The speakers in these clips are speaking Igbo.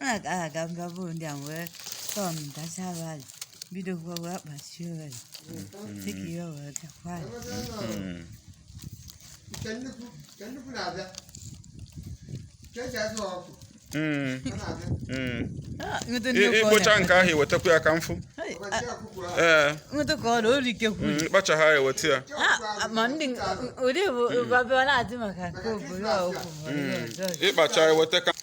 a ga-aga mba bụ ndị a wee tọọ m dacha abalị bido gwa wee kpachie owere dịka ihe owere gakwa ịkpụcha nke ahụ iwetakwu ya ka mfụ ee kpacha ha eweta ya ịkpacha eweta ka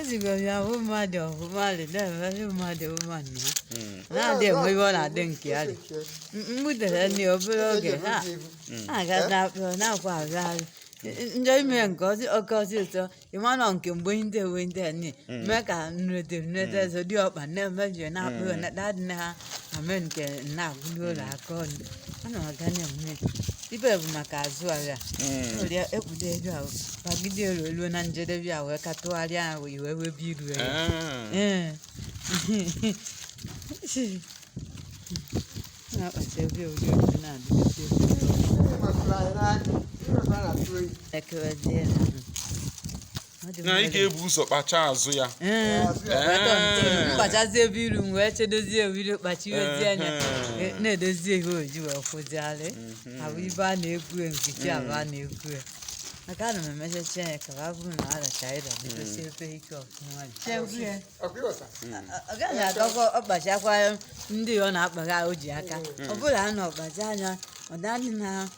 ezigara ahụ mmadụ ọgụ mmadụ na-emere mmadụ ụma nna na-adị enwe iwe ọ na-adị nke ya dị mgbudere nri obere oge ha na-aga na-akpọ na-akwa agagharị njọ ime nke ọzọ oke ọzọ ụtọ ịmanọ nke mgbe ndị ewe ndị a nne mee ka nrete nrete zodi ọkpa na-emebi na-akpụ na-adị na ha ame nke nna agwụ n'ụlọ aka ọnụ a na ọga na-enwe ibe bụ maka azụ agha nwere ekpudo ego ahụ bagide elu elu na njedebe ya wee ka tụgharịa ahụ iwe wee bi iru elu ee na-akpata ebe ụdị otu na-adịgide ekewezie na na ị ga-ebu ụzọ kpacha azụ ya kpachazie ebe iru m wee chedozie ewiro kpachiwezie anya na-edozie ihe oji wee kwụziarị abụ ibe a na-egwu nkiti abụ a na-egwu ya maka ana m emechachi anya ka ba bụrụ na aracha ịda bidosi ebe ike ọfụma ọ gaghị agakwa ọkpachakwa ndị ọ na-akpagha o ji aka ọ bụrụ na ọ kpacha anya ọ danị na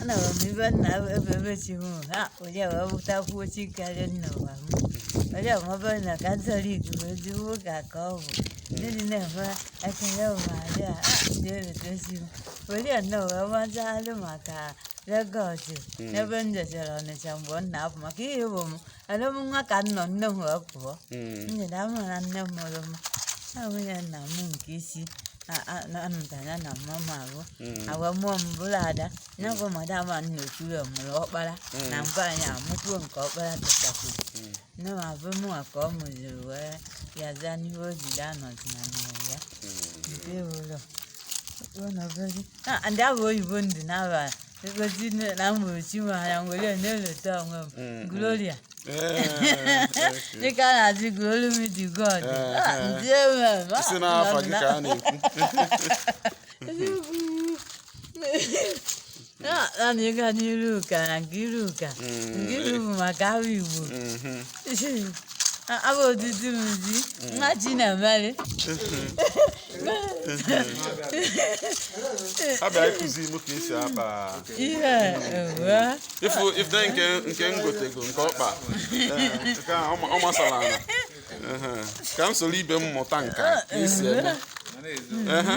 ana m ibe nna ebe ebe chi m ha onye wee bụtakwuo chi karịa nna ụwa m onye ọmọbe na katọlik bụ ezigbo ụka ka ọ bụ ndị dị na-enwe ekele ụwarị a dị eredozi m onye nna wee mazalụ maka legọs ebe m jechara ọnịcha mgbe m na-apụ maka ihe bụ m Alọ m ụwa ka m nọ nne m wee pụọ. Mm. M nyere ahụ na nne m mụrụ m. Na nwunye nna m nke isi a- a- na- anụta ya na mama m ahụ. Mm. E wee mụọ m bụrụ ada. Ya bụ madam a nna okwuru ya mụrụ ọkpara. Nwaanyị a amụkwuo nke ọkpara tụtakwuru. Mm. Nne m abụ mụ ka ọ mụziri wee ya zaa n'ihe o jiri anọzi na mmụrụ ya. Mm. Nke ụlọ. Ụlọ obere. Ah, ndị ahụ oyibo ndị na-arụ Ego ji nne na mụrụ chi m anya m were na-eleta onwe m. Mm, Gloria. Dịka a na-ajụ gị olu m ji God. Ah, Ndị enwe m. Ah, si n'afa gị ka a na-ekwu Ah, naanị ịga n'iru ụka na nke iru ụka. Nke iru bụ maka ahụ Igbo. Mhm. abụ odidi m ji nwa ji na-emeli abịa ịkụzi m ka esi akpa ihe e wee fụ ife nke nke ngotego nke ọkpa nke a ọ ma- ọ masara ala Ehe. ka m soro ibe m mụta nka ka esi eme Ehe.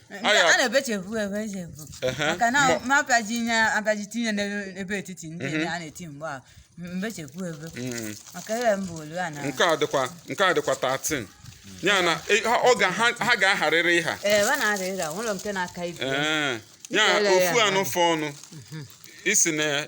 a na-ebechevu ebechevu maka na ma apịaji ihe apịaji tinye n'ebe etiti ndị mhm. a na-eti mgbe a mbechevu ebe mhm. maka ebe mbụ onu a na nke a dịkwa nke a dịkwa 13 ya na e, ha ga-aharịrị ịha ee ha na-aharịrị ịha nwere nke na-aka ibe ya ofu anụ fọ ọnụ mhm. isi na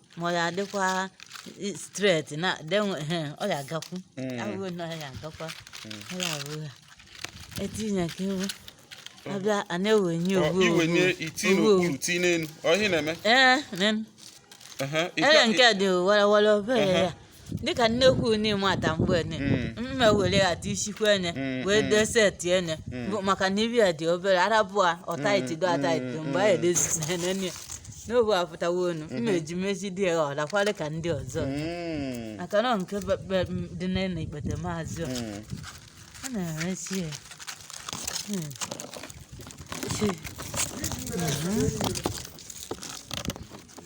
ma ọ ya-adịkwa straight na denwe ọ ya-agakwu ahụghị na ọ ya-agakwa ọ ya abụ ya etinye ka ewu abịa a na-ewenye owu i wenye i tii n'okpuru tii n'elu ọ ihe na-eme ee nen ee nke dị wara wara obere ya dịka nnekwu n'ịmata mgbe ne mma were eti isikwa ene wee dee set ene bụ maka na ibe ya dị obere arabụa ọtaiti do ataiti mgbe a edezizene n'obu apụtawa onu mma eji mezi dị ya ọdakwara ka ndị ọzọ Mm. maka na nke be- be- m dị na na ikpetemazụ ọ Mm. a na-eresi ya Hmm. Chi. Mhm.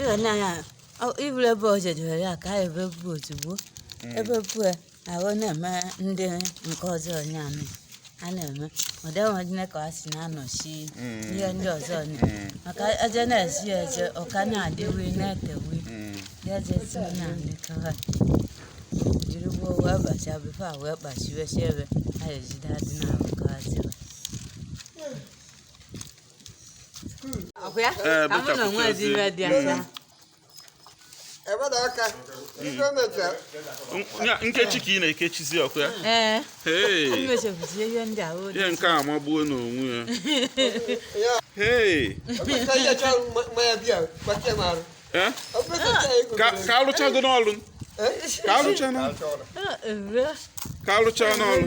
ịghọ na ya iburu ebe o jedebere ya ka a ya-ebepụ ozugbo e bepụ ya ahụ na-eme ndị nke ọzọ onye amị a na-eme ụdị enwejine ka a si na-anọchi ihe ndị ọzọ onye maka eje na-esi ya eje ọka na-adịwi na-etewi ya eje si onye amị kawa jiri gbuo wee bacha before e wee kpachiwe si ebe a ejide adị na-arụ kawa tiwa ọkwa ya Ee, ka mụ na bụchapụta onwe ezi ozi. iwe dị asa ebeda aka ife mecha nkechi ka ị na-ekechizi ọkụ ya ee imechekwuzie ihe ndị a ihe nke a magbuo n'onwe ya ee ka a lụchago ọlụ ka alụcha n'ọlụ ka alụcha n'ọlụ